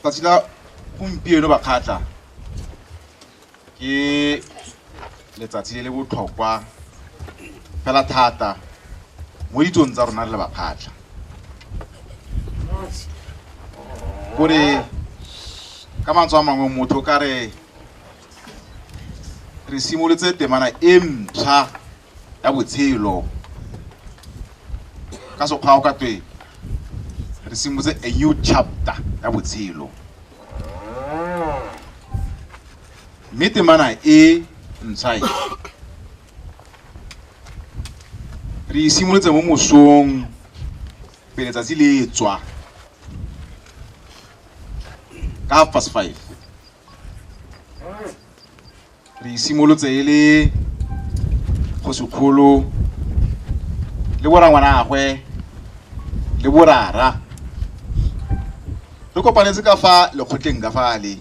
Tsatsi la gompieno bakgatla ke letsatsi le le botlhokwa fela thata mo ditsong tsa rona re le bakgatla gore ka mantswe a mangwe motho ka re re simolotse temana e ntšha ya botshelo ka sekgwao ka twe re simotse a new chapter ya botshelo mme temana e ntsha e re e simolotse mo mosong pele tsatsi le tswa ka half past five re isimolotse e le kgosikgolo le borangwanagwe le borara re kopanetse ka fa lekgotleng ka fale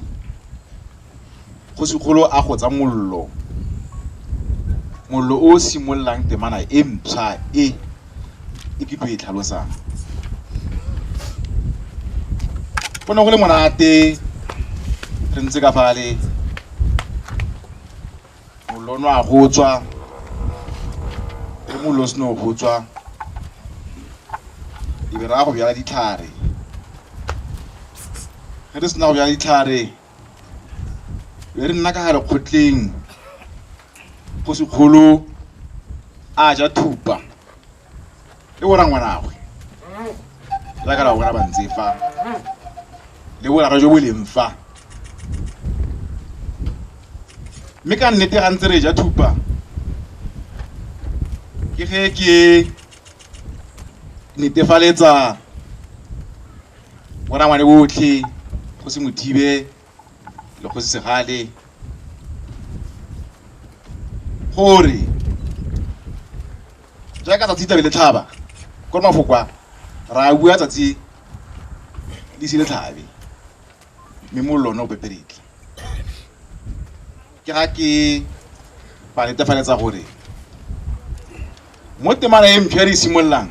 kgosikgolo a go tsa mollo mollo o simololang temana e mpšha e e ke tlo e tlhalosang go ne go le monate re ntse ka fale molono a go tswa le molo seno go tswa e be ra go bjala ditlhare ge re sena go bjala ditlhare be re nna ka gare kgotleng go sekgolo a ja thupa e bora ngwanagwe la ka la bona ba ntse fa le boraro jo bo leng fa mme ka nnete ga ntse re ja thupa ke ge ke netefaletsa mo rangwane botlhe go se mothibe le go se segale gore jaaka tsatsi tlabe le tlhaba ko mafoko a ra bua tsatsi le se le tlhabe mme mollo one o peperetle ke ga ke ba netefaletsa gore mo temana e mpho e re e simololang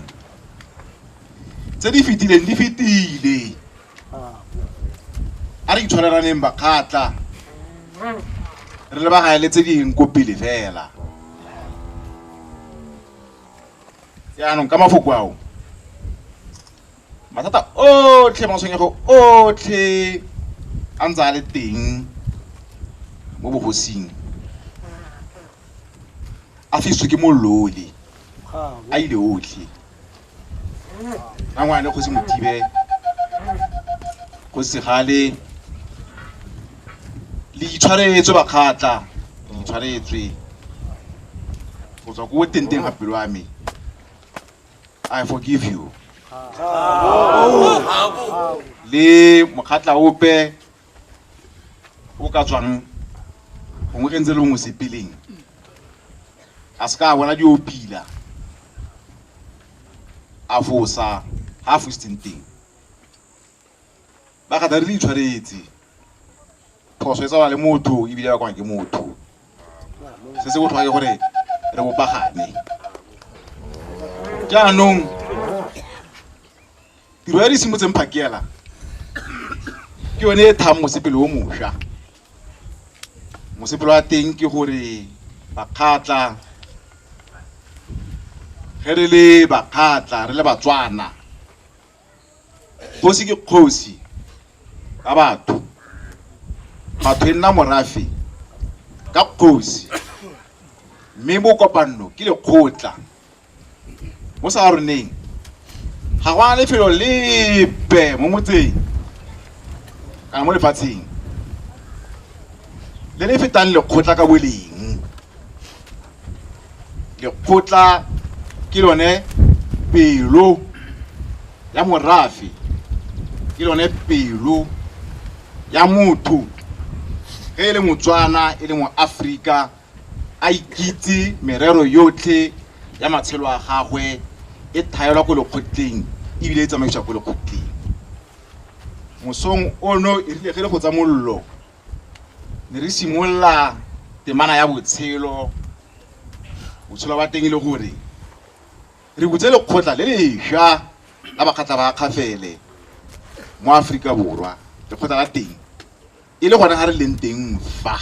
tse di fetileng di fetile a re itshwarelaneng bakgatla re lebagane le tse ding ko pele fela jaanong ka mafoko ao mathata otlhe matshwenyego otlhe a ntse a le teng mo bogosing a fiswe ke molole a ile otlhe a ngwane kgosi mothibe go segale le itshwaretswe bakgatla le itshwaretswe go tswa ko tenteng ga pelo ya me i forgive you le mokgatla ope o ka tswang gongwe ge ntse le ngwe sepeleng a se ka bona dio pila a fosa ga a fositseng teng ba gata re le itshwaretse phoso e tsawa le motho ebile ba kwana ke motho se se botlhokwa ke gore re bopagane jaanong Tiro ya di simotseng phakela ke yone e thang mosepele o mosha. Mosepele wa teng ke gore bakgatla ge re le bakgatla re le batswana kgosi ke kgosi ka batho batho e nna morafe ka kgosi mme mo kopanno ke lekgotla mo sa roneng ga go a lefelo lepe mo motseng kana mo lefatsheng le le fetang lekgotla ka boleng lekgotla ke lone pelo ya morafe ke lone pelo ya motho ge e le motswana e le moaforika a ikitse merero yotlhe ya matshelo a gagwe e thaelwa ko lekgotleng ebile e tsamaiswa ko lekgotleng mosong ono e rile ge le go tsa mollo ne re simolola temana ya botshelo botshelo ba teng e le gore re butse lekgotla le lesha la bakgatla ba kgafele mo aforika borwa lekgotla la teng E le gona a re leng teng fa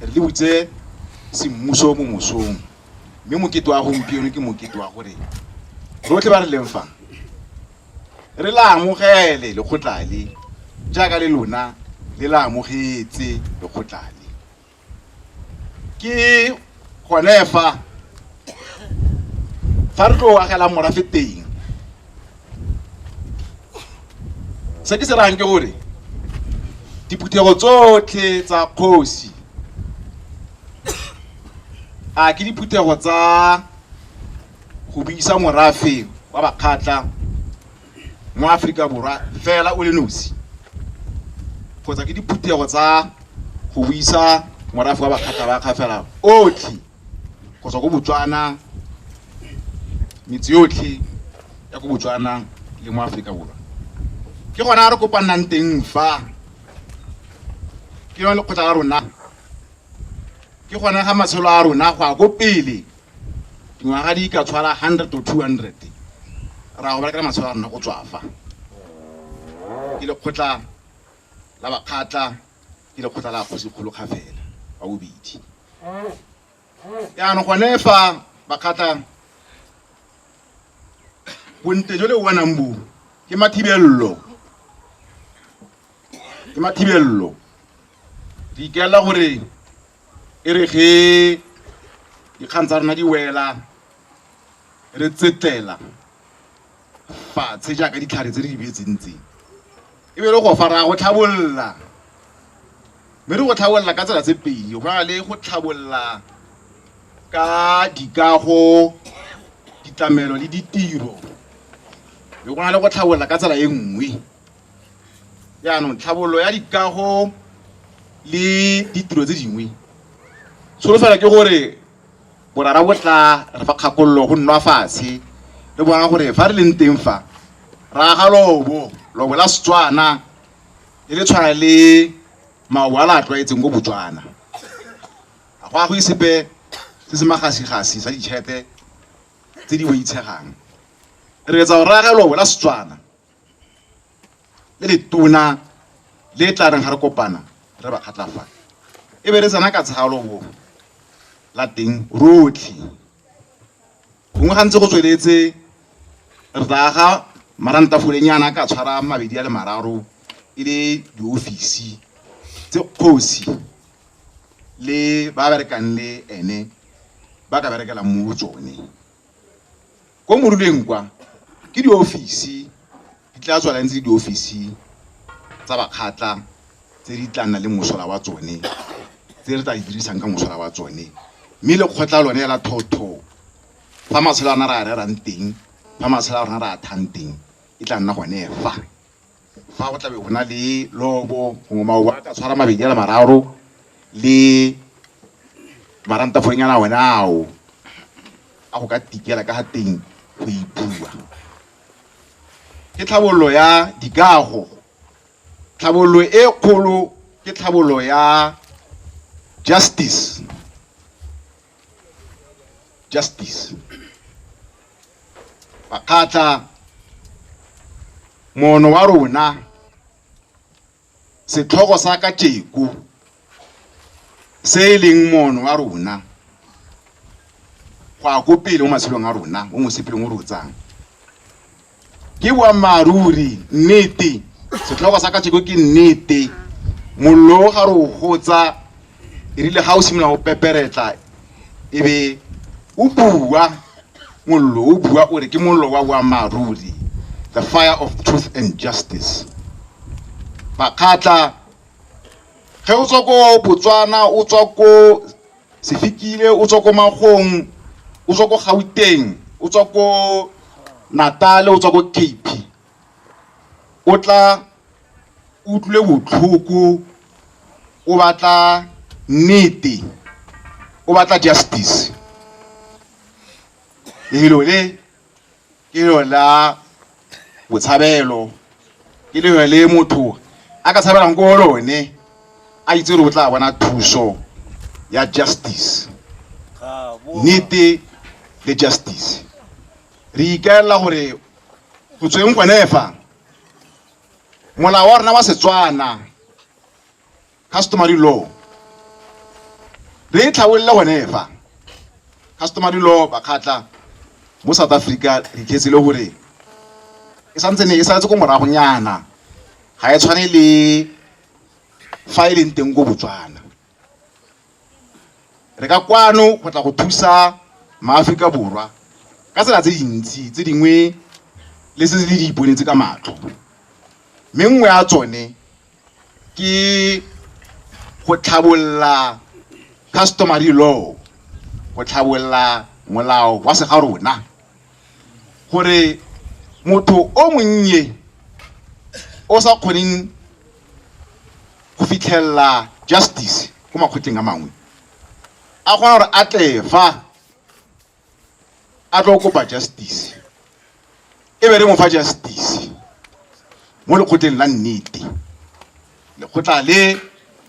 re le butse semmuso mo mosong, mme mokete wa gompieno ke mokete wa gore rotlhe ba re leng fa re la amogele lekgotla le jaaka le lona le la amogetse lekgotla le. ke gone fa fa re tlo agela morafe teng se ke se rang ke gore diphuthego tsotlhe tsa kgosi a ke diphuthego tsa go buisa morafe wa bakgatla mo Aforika Borwa fela o le nosi kgotsa ke diphuthego tsa go buisa morafe wa bakgatlabakga fela otlhe go tswa ko Botswana metse yotlhe ya ko Botswana le mo Aforika Borwa. Ke gona re kopanang teng fa ke yone lekgotla la rona ke gone ga matshelo a rona go ya ko pele dingwaga di ka tshwara 100 to 200 ra go berekela matshwao a rona go tswafa ke lekgotla la bakgatla ke lekgotla la kgosikgolo kga fela wa bobedi yaanong gone fa bakgatla bonte jo le o bonang bo ke mathibelelo Ke mathibello. Re ikaela gore e re ge dikgang tsa rona di wela re tsetlela fatshe jaaka ditlhare tse re di beetseng tse e be le go fa raya go tlhabolola mme re go tlhabolola ka tsela tse pedi go na le go tlhabolola ka dikago ditlamelo le ditiro le go na le go tlhabolola ka tsela e nngwe jaanong tlhabololo ya dikago le ditiro tse dingwe tsholofelo ke gore borara bo tla re fa kgakololo go nna fatshe re bona gore fa re leng teng fa ra ga lobo lobo la setswana le le tshwana le maobo a le a tlwaetseng ko botswana ga go a go isepe se se magasigasi sa ditšhete tse di boitshegang re etsa go raya lobo la setswana le letona le tla reng ga re kopana re ba kgatlafala e be re tsena ka tshalo bo la teng rotlhe gongwe gantse go tsweletse re tla ga marantafoleng yana ka tshwara mabedi a le mararo e le diofisi tse kgosi le ba berekang le ene ba ka berekelang mo tsone Ko moruleng kwa ke diofisi di tla tswa lantse diofisi tsa bakgatla tse di tla nna le mosola wa tsone tse re tla di dirisang ka mosola wa tsone mme lekgotla lone la thotho fa matshelo a rona re a rerang teng fa matshelo a rona re a thang teng e tla nna gone fa Fa go tlabe go na le lobo gongwe maobo a ka tshwara mabedi a le mararo le marantafonyana one ao a go ka tikela ka ga teng go ipua. Ke tlhabololo ya dikago, tlhabololo e kgolo ke tlhabololo ya justice, justice makgatla mono wa rona setlhogo sa ka tšeko se e leng mono wa rona go ya ko pele mo matshelong a rona o mosepelong o re o tsang Ke boammaaruri, nnete. Setlhogo sa kajeko ke nnete. Mollo o ga re o gotsa, erile ga o simolola go peperetla, e be o bua, mollo o bua o re ke mollo wa boammaaruri, the fire of truth and justice. Bakgatla, ge o tswa ko Botswana, o tswa ko Sefikile o tswa ko Magong, o tswa ko Gauteng, o tswa ko Natal, o tswa ko Cape. O tla o utlwile botlhoko, o batla nnete, o batla justice. Lefelo le. ke lengwe la botshabelo, ke lengwe le motho a ka tshabelang ko lone a itse gore o tla bona thuso ya justice, nnete le justice. Re ikaelela gore go tsweng gone fa molao wa rona wa Setswana customary law re e tlhabolole gone fa customary law bakgatla mo south africa re iketse le gore e santse ne e saletse ko moragonyana ga e tshwane le fa e leng teng ko botswana re ka kwano go tla go thusa maaforika borwa ka tsela tse dintsi tse dingwe le se di iponetse ka matlho mme nngwe ya tsone ke go tlhabolola customary law go tlhabolola molao wa se ga rona gore motho o monnye o sa kgoneng go fitlhelela justice ko makgotleng a mangwe a kgona gore a tle fa a tlo kopa justice e be re mo fa justice mo lekgotleng la nnete lekgotla le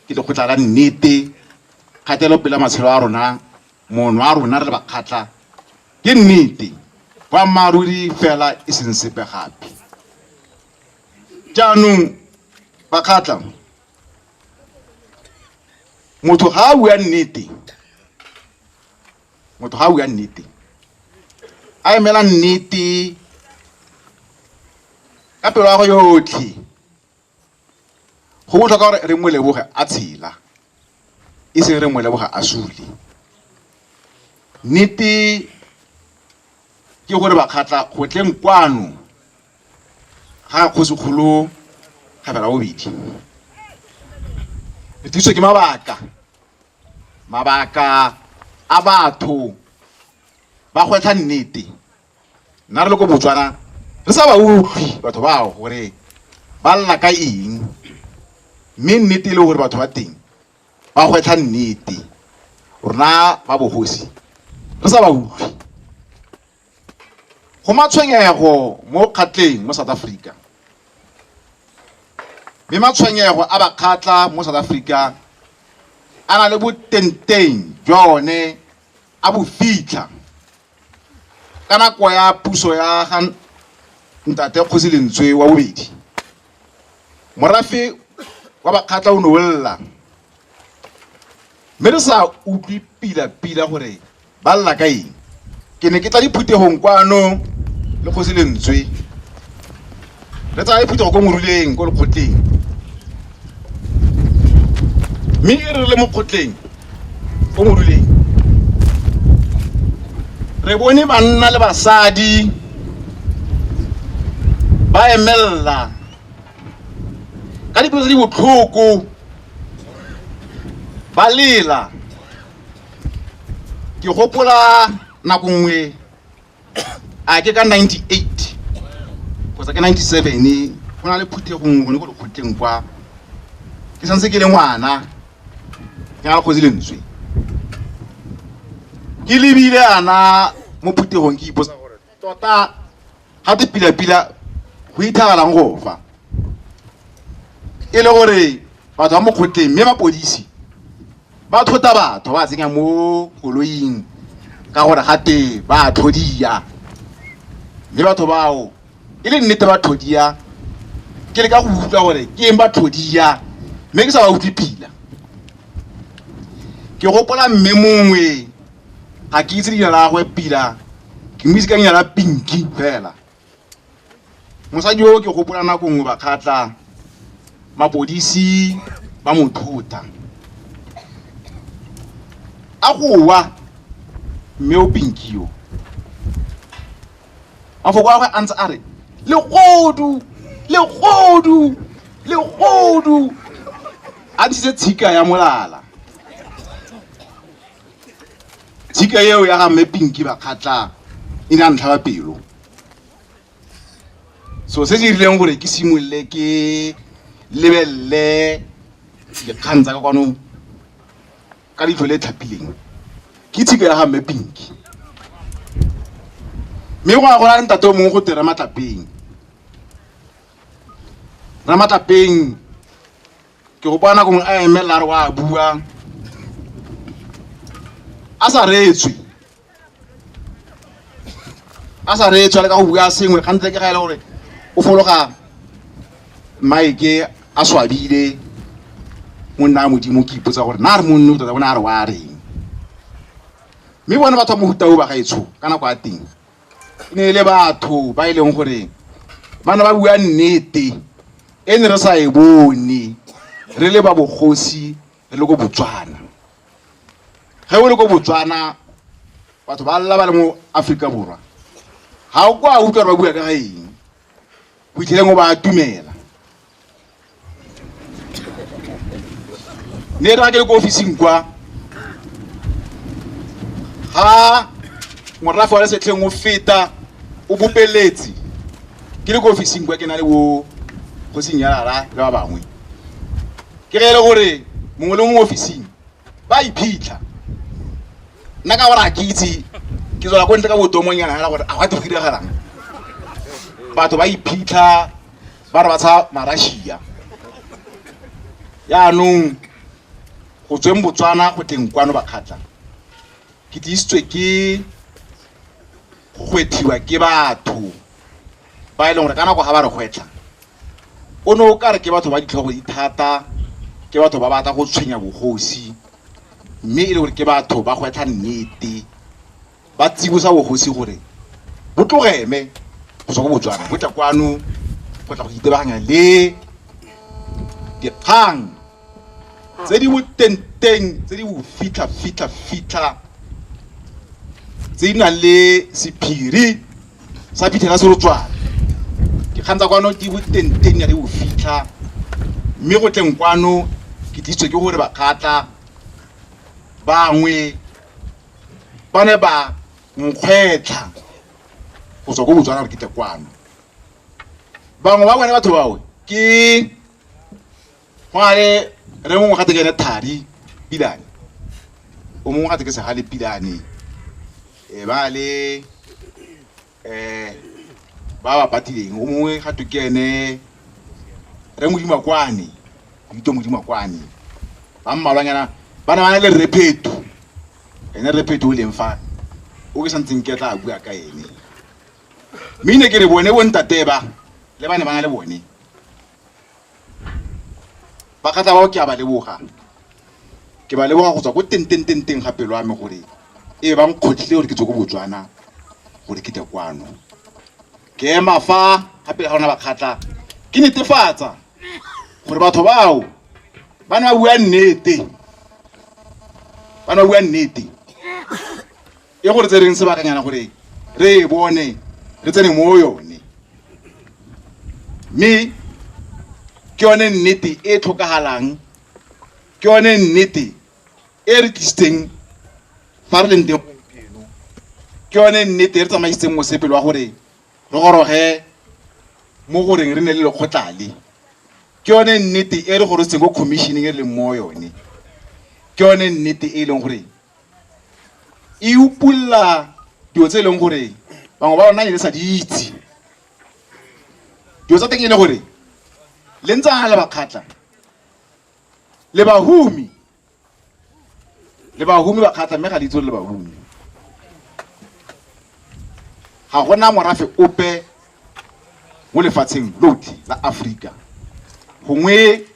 ke lekgotla la nnete kgatelo pela matshelo a rona mono a rona re bakgatla ke nnete boammaaruri fela e seng sepe gape jaanong bakgatla motho ga a bua nnete motho ga a bua nnete a emela nnete ka pelo ya go yotlhe go botlhokwa gore re mo leboge a tshela e seng re mo leboga a sule nnete ke gore bakgatla gotleng kwano ga kgosikgolo kgabela bobedi re thuso ke mabaka Mabaka a batho ba gwetlha nnete, nna re le ko Botswana re sa ba utlwi batho bao gore ba lla ka eng, mme nnete e le gore batho ba teng ba gwetlha nnete, rona ba bogosi re sa ba utlwi. Go matshwenyego mo kgatleng mo South Africa. Mme matshwenyego a bakgatla mo South Africa a na le botenteng jwa one a bo fitlha ka nako ya puso ya ga ntate Kgosi Lentswe wa bobedi. Morafe wa bakgatla o ne o lla mme re sa utlwe pila-pila gore Ba lla ka eng? Ke ne ke tla diphuthegong kwano le kgosi lentswe. Re tsaya diphuthego ko moruleng ko lekgotleng. Mme e re le mo kgotleng ko moruleng re bone banna le basadi ba emelela ka dipelo tse di botlhoko ba lela ke gopola nako nngwe a ke ka 98 kgotsa ke 97 go na le phuthego nngwe gone ko dikgotleng kwa ke santse ke le ngwana ke na le kgozi lentswe ke lebile ana mo phuthegong ke ipotsa Tota ga te pila-pila go ithagalang go fa e le gore batho ba mokgotleng mme mapodisi ba thota batho ba tsenya mo koloing ka gore ga te ba tlhodia mme batho bao e le nnete ba tlhodia ke le ka go utlwa gore ke eng ba tlhodia mme ke sa ba utlwe pila ke gopola mme mongwe ga ke itse leina la gagwe pila ke mo itse ka leina la pinki fela mosadi o ke gopola nako nngwe bakgatla mapodisi ba mo thota a gowa mme o pinki yo mafoko a gagwe a ntse a re legodu legodu legodu a ntshitse tshika ya molala jika eo ya ga mme pinki ba kgatlha e ne a ntlhaba pelo so se se rileng gore ke simolole ke lebelele dikgang tsa ka kwano ka leitlho le tlhapileng ke tshika ya ga mme pinki mme go ya go na ntate o mongwe go te ramatlapeng ramatlapeng ke go bona kongwe a emelela a re wa bua a sa reetswe a sa reetswe a le ka go bua sengwe gantse ke ga e le gore o fologa maeke a swabile monna a modimo ke ipotsa gore na re monne o tota bona a re wa reng mme bone batho ba mohuta o ba gaetsho ka nako ya teng e ne e le batho ba e leng gore ba ne ba bua nnete e ne re sa e bone re le ba bogosi re le ko botswana ge o le ko botswana batho ba lla ba le mo aforika borwa ga o kwa utlwa ba bua ka ga eng go itlheleng o ba atumela ne ra ke le ko ofising kwa ha morafe wa lesetlheng o feta o bopeletsi ke le ko ofising kwa ke na le bo go senyalala le ba bangwe ke ge e le gore mongwe le mongwe ofising ba iphitlha nna ka gore a ke itse ke tswela ko ntle ka botomonyana fela gore a gwa te go diragalang batho ba iphitlha ba re ba tsha marashia yaanong go tsweng botswana go teng kwano bakgatla ke tlisitswe ke go gwethiwa ke batho ba e leng gore ka nako ga ba re gwetlha o ne o ka re ke batho ba ditlhogo di thata ke batho ba batla go tshwenya bogosi mme e le gore ke batho ba gwetlha nnete ba tsibosa bogosi gore bo tlogeme go tswa ko botswana bo tla kwano go tla go itebaganya le dikgang tse di botenteng tse di bofitlha fitlha fitlha tse di nang le sephiri sa phithela serotswana dikgang tsa kwano di botenteng ya di bofitlha mme go tleng kwano ke tlisitswe ke gore bakgatla bangwe ba ne ba nkgwetlha go tswa ko botswana gore ke tle kwano bangwe ba bone batho bawe ke go na le re mongwe gate ke ene thari pilane o mongwe gate ke segale pilane e ba le ba ba patileng o mongwe ga to ke ene re modima kwane dito modima kwane ba mmalwanyana ba ne ba na le repheto ene repheto o leng fa o ke santseng ke tla bua ka ene mme ne ke re bone bo ntate ba le ba ne ba na le bone ba kgatla bao ke a ba leboga ke ba leboga go tswa ko teng teng teng teng ga pelo ya me gore e bang kgotlhile gore ke tswe ko botswana gore ke tle kwano ke ema fa gape ga ona bakgatla ke netefatsa gore batho bao ba ne ba bua nnete ba ne ba bua nnete e gore tse reng sebakanyana gore re e bone re tsene mo yone mme ke yone nnete e tlhokagalang ke yone nnete e re tlisitseng fa re leng teng gompieno ke yone nnete e re tsamaisitseng mosepele wa gore re goroge mo goreng re ne le lekgotlale ke yone nnete e re gorositseng ko commissioning e re leng mo yone ke yone nnete e leng gore e upulla dilo tse e leng gore bangwe ba rona e le sa di itse dilo tsa teng e le gore le ntse a le bakgatla le bahumi le bahumi bakgatla mme ga le itse le bahumi ga gona morafe ope mo lefatsheng lotlhe la aforika gongwe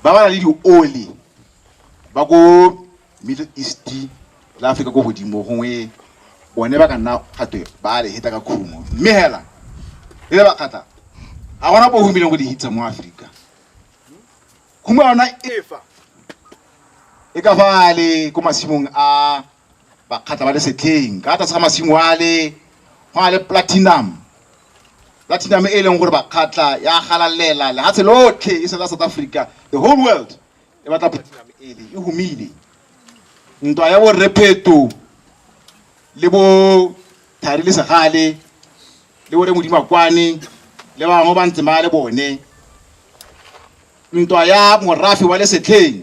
ba ba na le dioli ba ko Middle East le Afrika ko godimo gongwe bone ba ka nna gatwe ba le heta ka khumo mme hela e le bakgatla ga gona bo humileng go di hitsa mo Afrika khumo yona efa e ka fa le ko masimong a bakgatla ba le setlheng ka tlase ga masimo a le go na le platinum platinum e leng gore bakgatla ya galalela lehatshe lotlhe e sela South Africa the whole world e batla platinum ele e humile ntwa ya borre pheto le bo thari le segale le bore modimakwane le bangwe ba ntse ba le bone ntwa ya morafe wa lesetlheng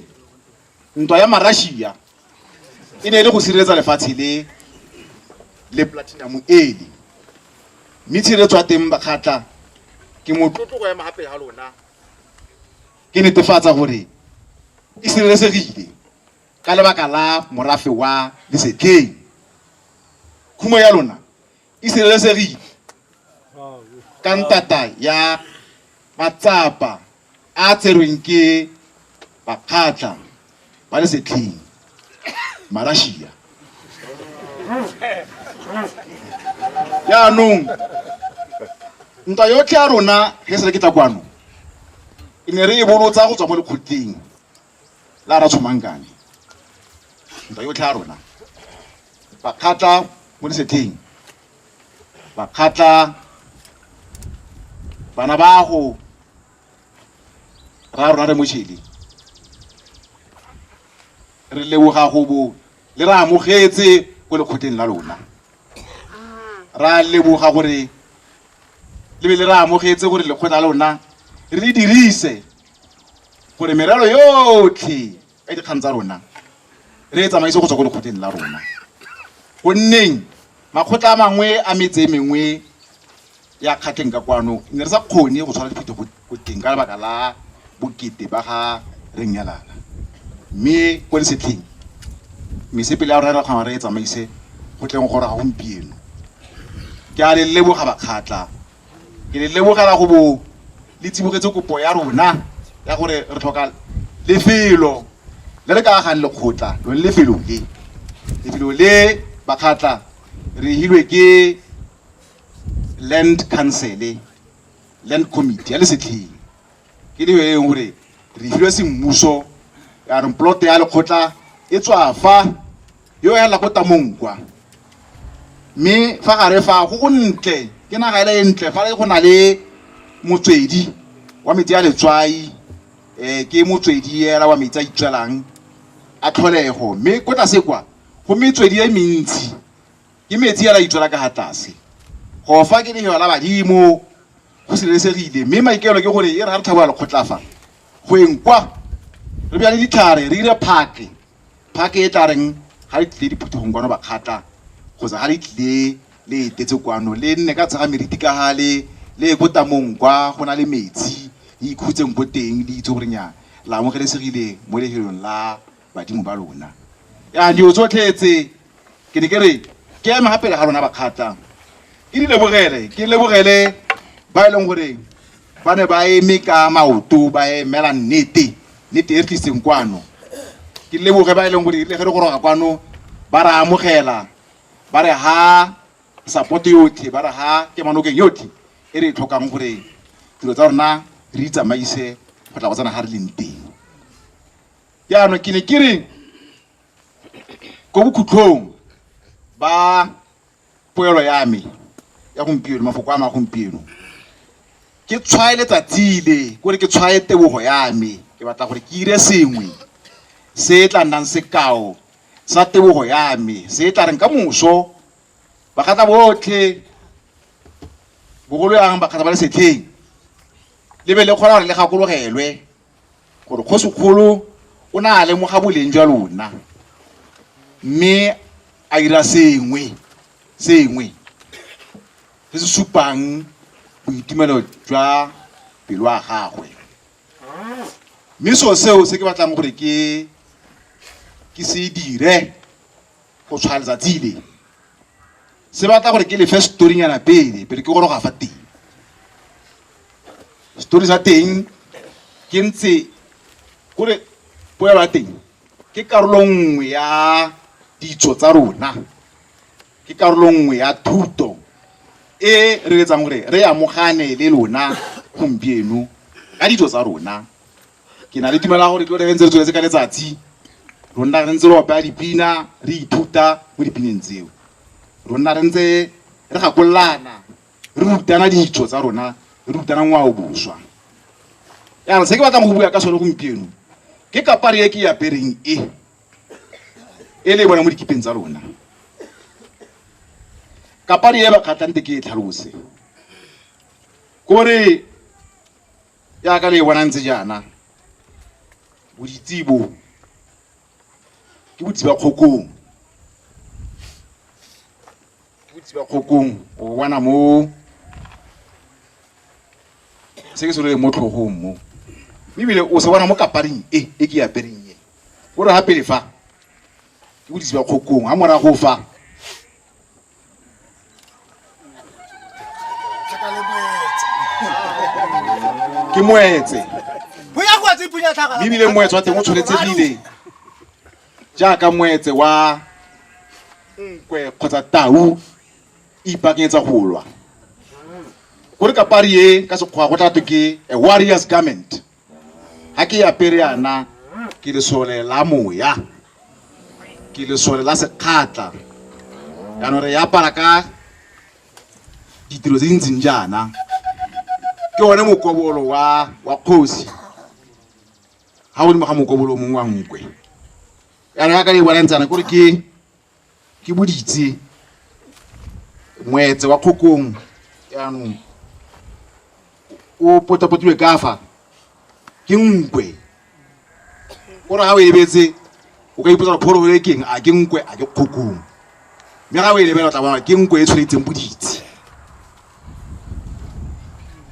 ntwa ya marashia e ne e le go sireletsa lefatshe le le platinum ele mme tshireletso ya teng bakgatla ke motlotlo go ema gape ga lona Ke netefatsa gore e sireletsegile ka lebaka la morafe wa lesetlheng. Khumo ya lona e sireletsegile ka ntata ya matsapa a a tserweng ke bakgatlha ba le setlheng marashia jaanong ntwa yotlhe ya rona ge se re ke tla kwano e ne re e bolotsa go tswa mo lekgotleng la ra tshomangkane ntwa yotlhe ya rona bakgatla mo lesetlheng bakgatla bana bago ra rra re mo tšheleng re leboga go bo le re amogetse ko lekgotleng la lona ra leboga gore le be le re amogetse gore lekgotla la lona re le dirise gore merero yotlhe ka dikgang tsa rona re e tsamaise go tswa ko lekgotleng la rona gonneng makgotla a mangwe a metse e mengwe ya kgatlheng ka kwano ne re sa kgone go tshwara diphuto ko teng ka lebaka la bokete ba ga re nyalana mme ko lesetlheng mesepele ya rona re kgona re e tsamaise go tleng gore ga gompieno ke a le leboga bakgatla ke le lebogela go bo le tsibogetse kopo ya rona ya gore re tlhoka lefelo le re ka agang lekgotla lone lefelo le lefelo le bakgatla re hilwe ke land council land committee ya lesetlheng Ke leo e leng gore re filwe semmuso ya re plote ya lekgotla e tswa fa yo ya la ko tamong kwa mme fa gare fa go go ntle ke naga ele e ntle fa go na le motswedi wa metsi ya letswai um ke motswedi ela wa metsi a itswelang a tlholego mme ko tlase kwa go metswedi e mentsi ke metsi ela itswela ka ga tlase go fa ke leheo la badimo go sireletsegile mme maikaelo ke gore e re ga re tlhabola lekgotla fa go eng kwa re bjale ditlhare re dire phake phake e tla reng ga le tlile diphuthegong kwano bakgatla kgotsa ga le tlile le etetse kwano le nne ka tshega meriti ka ga le le ko tamong kwa go na le metsi le ikhutseng ko teng le itse gorenyana la amogelesegile mo lehelong la badimo ba lona ya dio tsotlhe tse ke ne ke re ke ema ga pele ga lona bakgatla ke di lebogele ke lebogele ba e leng gore ba ne ba eme ka maoto ba emela nnete nnete e re tliseng kwano ke leboge ba e leng gore le ge re goroga kwano ba re amogela ba re ha support yotlhe ba re ha kemanokeng yotlhe e re e tlhokang gore dilo tsa rona re itsamaise go tla go tsena ga re leng teng jaanong ke ne ke re ko bokhutlhong ba poelo ya me ya gompieno mafoko a ma gompieno ke tshwae letsatsi le kore ke tshwae tebogo ya me ke batla gore ke ire sengwe se e tla nnang sekao sa tebogo ya me se e tla reng ka moso bakgatla botlhe bogolo yang bakgatla ba le setlheng le be le kgona gore le gakologelwe gore kgosikgolo o ne a lemoga boleng jwa lona mme a dira sengwe sengwe se se supang boitumelo jwa pelo ya gagwe mme seo seo se ke batlang gore ke ke se dire go tshwaya letsatsi le se batla gore ke lefe storynyana pele pele ke goroga fa teng story sa teng ke ntse kore poelo ya teng ke karolo nngwe ya ditso tsa rona ke karolo nngwe ya thuto e re etsang gore re amogane le lona gompieno ka ditso tsa rona Ke na le tumelo ya gore ke lo re ntse re tsweletse ka letsatsi ro nna re ntse re opela dipina re ithuta mo dipineng tseo ro nna re ntse re gakololana re rutana ditso tsa rona re rutana ngwao boswa jaanong se ke batlang go bua ka sone gompieno ke kapare e ke e apereng e e le e bona mo dikipeng tsa lona kapare e bakgatlante ke e tlhalose kore jaaka le e bonang tse jaana boditsebo ke botsiba kgokong ke botsiba kgokong o bona mo se ke se loleng mo tlhogong mo ebile o se bona mo kaparing e e ke apereng e o re ga pele fa ke botsiba kgokong ga morago fa ke moetse mme ebile moetse wa teng o tshwanetse bile jaaka moetse wa nkwe kgotsa tau e ipaakanyetsa go lwa ko re kapari e ka sekgwa go tla twe ke a warriors garment ga ke apere yana ke lesole la moya ke lesole la sekgatla jaanong re apara ka ditiro tse di ntseng jaana ke one mokobolo wa wa kgosi ga godimo ga mokobolo mongwe wa nkwe jaanong ya ka le e bonang tsana kore ke Ke boditse moetse wa kgokong jaanong o potapotilwe kafa ke nkwe kore ga o e lebetse o ka ipotsa pholo e keng a ke nkwe a ke kgokong mme ga o e lebela o tla bona ke nkwe e tshwanetseng boditse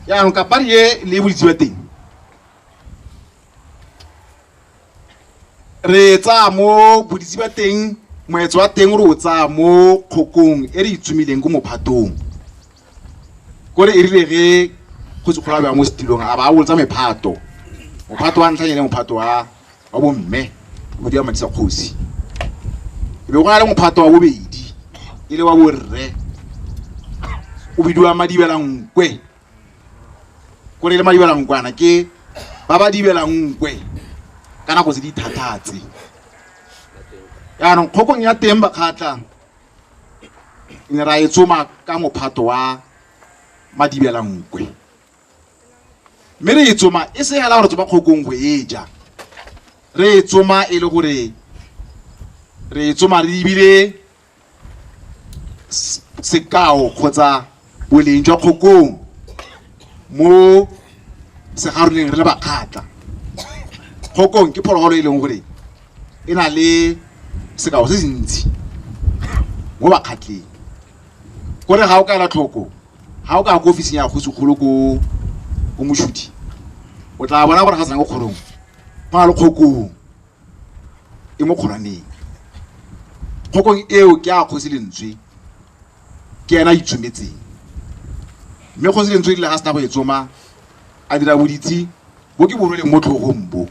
jaanong kapari e le boditse ba teng re e tsaya mo boditsi ba teng moetso wa teng re o tsaya mo kgokong e re itsumileng ko mophatong ko re e rile ge go se kgolabja mo setilong a ba a bolotsa mephato mophato wa ntlhanyane mophato wa wa bomme o dira madisa kgosi e be go na le mophato wa bobedi e le wa borre o bidiwa madibela nkwe ko re le madibelankwana ke ba ba dibelang nkwe ka nako tse di thathatse yaanong kgokong ya teng bakgatlha ne ra e tsoma ka mophato wa madibelankwe mme re e tsoma e se hela gore tsoma kgokong go e ja re e tsoma e le gore re e tsoma re ebile Sekao kgotsa boleng jwa kgokong mo segaroleng re le bakgatla. Kgokong ke phologolo e leng gore e na le sekao se se ntsi mo bakgatleng. Ko re ga o ka ela tlhoko, ga o ka ya ko ofising ya kgosi kgolo ko ko Moshuthi, o tla bona gore ga o tsena ko kgorong go na le kgokong. e mo kgoraneng. Kgokong eo ke a kgosi lentswe, ke ena a itshometseng. Mme kgosi lentswe e rile ga sena go e tsoma, a dira boditshi bo ke bo rweleng mo tlhogong bo,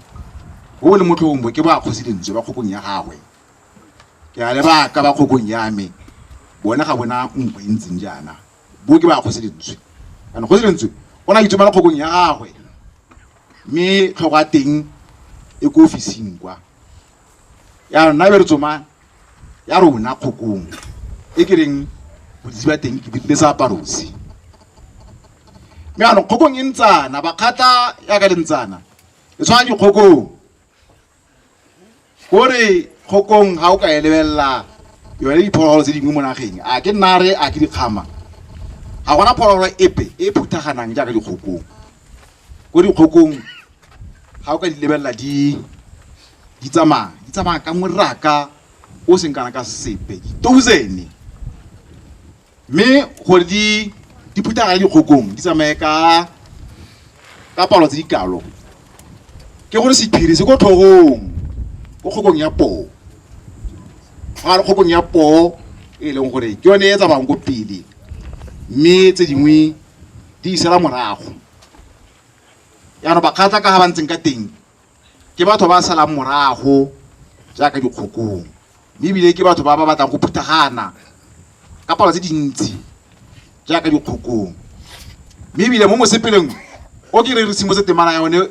bo bo leng mo tlhogong bo ke ba kgosi lentswe ba kgokong ya gagwe. Ke a lebaka ba kgokong ya me, bone ga bona nko e ntseng jaana, bo ke ba kgosi lentswe. Jaanong kgosi lentswe o ne a itsomela kgokong ya gagwe. mme tlhogo ya teng e ko ofising kwa ya rona be re tsoma ya rona kgokong e ke reng boditsi ba teng ke dirile sa aparose mme anong kgokong e ntsana bakgatla ya ka le ntsana e tshwana dikgokong o re kgokong ga o ka e lebelela yone diphologolo tse dingwe mo nageng a ke nare a ke dikgama ga gona phologolo epe e phuthaganang jaaka dikgokong ko dikgokong ga o ka di lebelela di di tsamaya di tsamaya ka moraka o seng kana ka sepe di-thousand mme gore di di phuthaga ya dikgokong di tsamaye ka ka palo tse di kalo ke gore sephiri se ko tlhogong ko kgokong ya poo ga re kgokong ya poo e leng gore ke yone e tsamayang ko pele mme tse dingwe di isela morago yaanong bakgatla ka ga ba ntseng ka teng Ke batho ba salang morago jaaka dikgokong, mme ebile ke batho ba ba batlang go phuthagana ka palo tse dintsi jaaka dikgokong. Mme ebile mo mosepeleng o ke re re simolotse temana ya one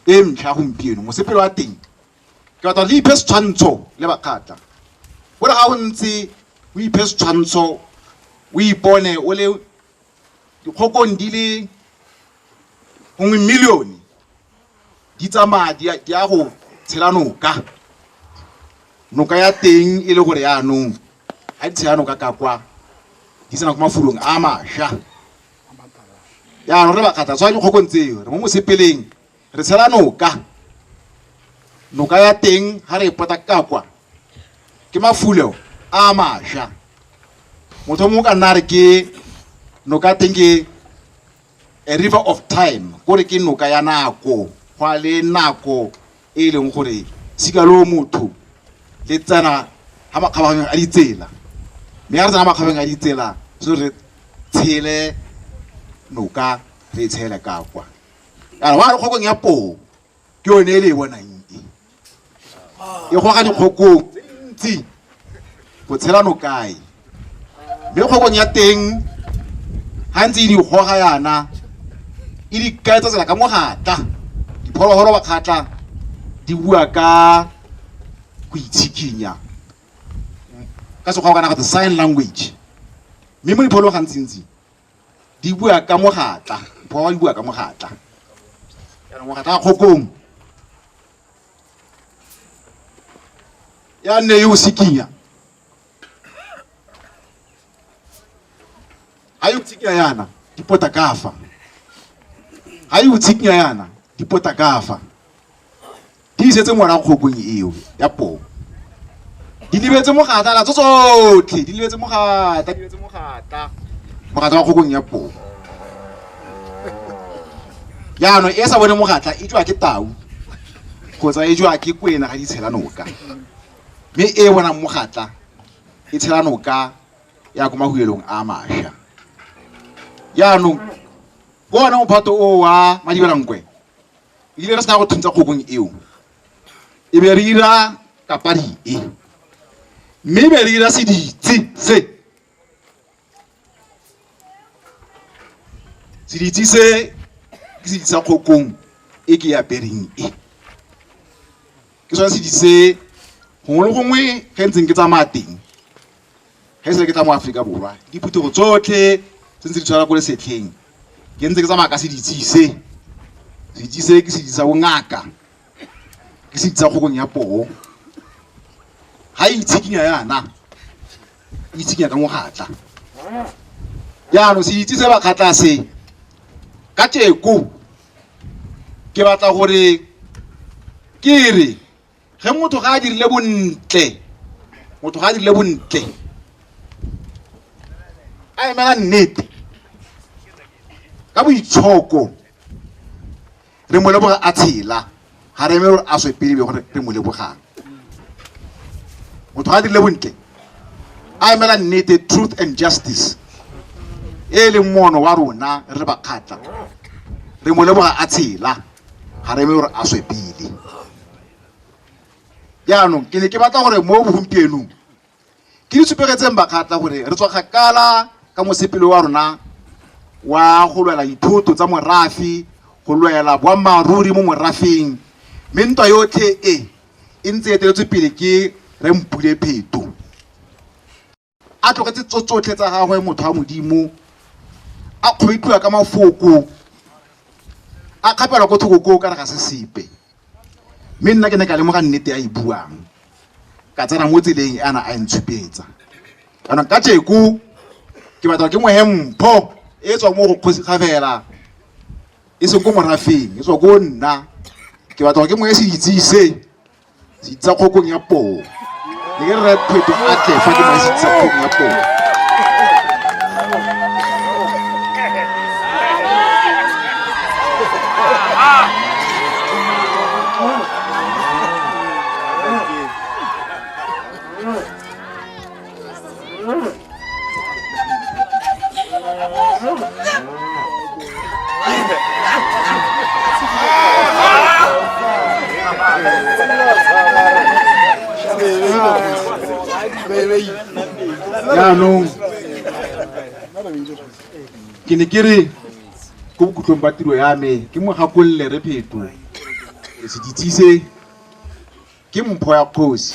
e ntlha gompieno, mosepele wa teng ke batla re iphe setshwantsho le Bakgatla. O re ga o ntse o iphe setshwantsho, o ipone o le dikgokong di le nngwe million-e, di tsamaya di ya go tshela noka noka ya teng e le gore yaanong ga di tshela noka ka kwa di tsena ko mafulong a masha yaanong re bakgatla tshwa dikgokong tseo re mo mosepeleng re tshela noka noka ya teng ga re e pota ka kwa ke mafulo a masha motho mongwe ka nna re ke noka teng ke A river of time, kore ke noka ya nako, go a le nako e e leng gore sikaloo motho le tsena ga makgabaganyong a ditsela, mme ga re tsena makgabeng a ditsela so re tshele noka re e tshele ka kwa kana wa re kgokong ya poo ke yone e le e bonang e e goga dikgokong tse dintsi go tshela nokae mme kgokong ya teng ga ntse e di goga yana e di kaetsa tsela ka mogatla diphologolo ba kgatla di bua ka go itshikinya ka sekgwa o kana go the sign language mme mo diphologolo gantsintsi di bua ka mogatla ba ba di bua ka mogatla jaanong mogatla wa kgokong ya nne yo o sekinya ga yo tshikinya yana di pota kafa ga yo tshikinya yana di pota kafa Di isetse ngwana kgokong eo ya poo. Di lebetse mogata la tsotlhe, di lebetse mogata, di lebetse mogata. Mogata wa kgokong ya poo. Jaanong e sa bone mogatla e jwa ke tau kgotsa e jwa ke kwena ga di tshela noka. Mme e bonang mogatla e tshela noka ya ko mahuelong a masha. Jaanong ke one mophato o wa Madibelankwe. re ile ra sena go thuntsa kgokong eo e be re ira kapadi e mme e be re ira seditse se seditse se ke seditse sa kgokong e ke e apereng e ke sone seditse se gongwe le gongwe ge ntseng ke tsamaya teng ge se ke tla mo aforika borwa diphuthego tsotlhe tse ntse di tshwana ko lesetlheng ke ntse ke tsamaya ka seditsise seditsise ke seditsa bongaka ke seditsa kgokong ya poo ga e itshikinya yana e itshikinya ka mogatla jaanong seditsi se bakgatla se ka teko ke batla gore ke re ge motho ga a dirile bontle motho ga a dirile bontle a emela nnete ka boitshoko re mo leboga a tshela ga re eme gore a swe pele be gore re mo lebogang motho ga a dirile bontle a emela nnete truth and justice e leng mono wa rona re le bakgatla re mo leboga a tshela ga re eme gore a swe pele jaanong ke ne ke batla gore mo bogompienong ke di supegetseng bakgatla gore re tswa kgakala ka mosepele wa rona wa go lwela dithoto tsa morafi go lwela boammaaruri mo morafeng mme ntwa yotlhe e e ntse e eteletswe pele ke re mpule pheto A tlogetse tso tsotlhe tsa gagwe motho wa Modimo, a kgwetlwa ka mafoko, a kgapelwa ko thoko koo ka re ga se sepe. Mme nna ke ne ka lemoga nnete a e buang, ka tsena mo tseleng e ana a e ntshupetsa. Jaanong ka tjeko ke batla ke mohe mpho e tswa mo go kgosi Kgabela, e seng ko morafeng, e tswa ko nna. Ke batla ke mohe se itsise Sitsa kgokong ya poo. Ke re re pheto a tle fa ke ba sitsa kgokong ya poo. jaanong ke ne ke re ko bokhutlong ba tiro ya me ke mo gakolole re pheto re se ditshise ke mpho ya kgosi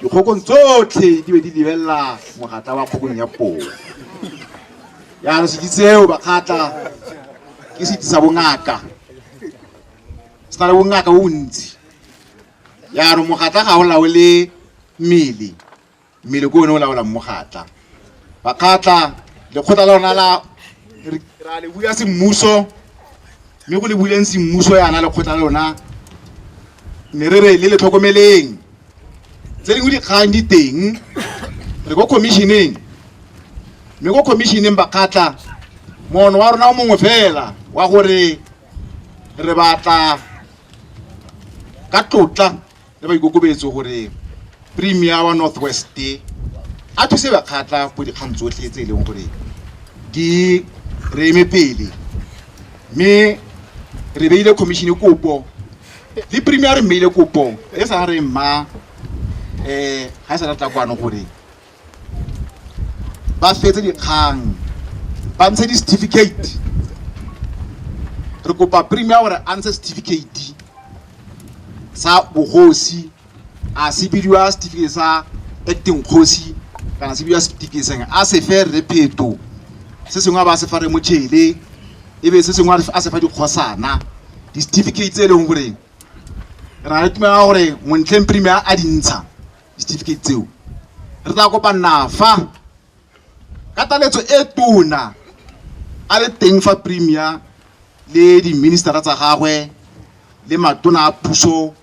dikgokong tsotlhe di be di lebelela mogatla wa kgokong ya poo jaanong sedi tseo bakgatla ke sedi sa bongaka se na le bongaka bo bontsi jaanong mogatla ga o laole mmele mmele ko one o laolang mogatla bakgatla lekgotla la rona la ra le bula semmuso mme go le buleng semmuso yana lekgotla la lona ne re re le le tlhokomeleng tse dingwe dikgang di teng re ko commissioneng mme ko commissioneng bakgatla mono wa rona o mongwe fela wa gore re batla ka tlotla le boikokobetso gore premier wa north west a thuse bakgatla ko dikgang tsotlhe tse e leng gore di re eme pele mme re beile commissione kopo le premier re mmeile kopo e sa re mma um ga e sa tla kwano gore ba fetse dikgang ba ntshe di-certificate re kopa premier gore a ntshe certificate sa bogosi a se bidiwa certificate sa acting kgosi kana se bidiwa certificate seng a se fe re pheto se sengwe a ba se fa re motšhele e be se sengwe a se fa dikgosana di-certificate tse e leng gore re na le tumela gore montleng premier a dintsha di-certificate tseo re tla kopa nafa ka taletso e tona a le teng fa premier le di-ministera tsa gagwe le matona a puso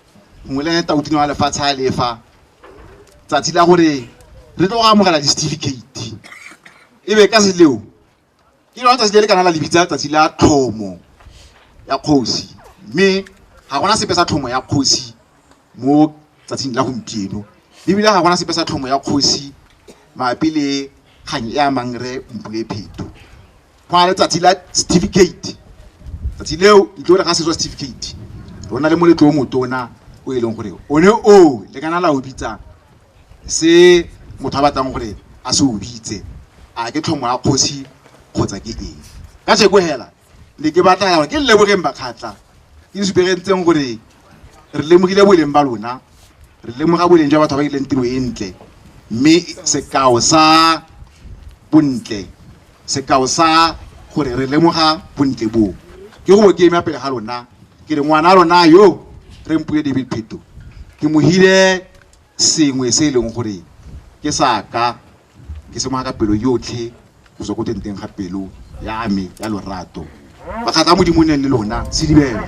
gongwe le tautino wa lefatshe a lefa tsatsi la gore re tlo go amogela di-certificate e be ka seleo ke lone tsatsi le le kana la lebitsa tsatsi la tlhomo ya kgosi mme ga gona sepe sa tlhomo ya kgosi mo tsatsing la gompieno ebile ga gona sepe sa tlhomo ya kgosi mabapi le kgang e amang re mpule pheto go na le tsatsi la certificate tsatsi leo itlo re ga setswa certificate rona le moletlo o motona o e leng gore one o le kana la o bitsang se motho a batlang gore a se o bitse a ke tlhomo ya kgosi kgotsa ke eng ka jeko hela ne ke batla gore ke lebogeng bakgatla ke supegentseng gore re lemogile boleng ba lona re lemoga boleng jwa batho ba ileng tiro e ntle mme sekao sa bontle sekao sa gore re lemoga bontle boo ke go ke ema pele ga lona ke re ngwana lona yo re mpule david pheto ke mohile sengwe se e leng gore ke sa ka ke se ka pelo yotlhe go tswa ko tenteng ga pelo ya me ya lorato bakgatla a modimo neng le lona sedibela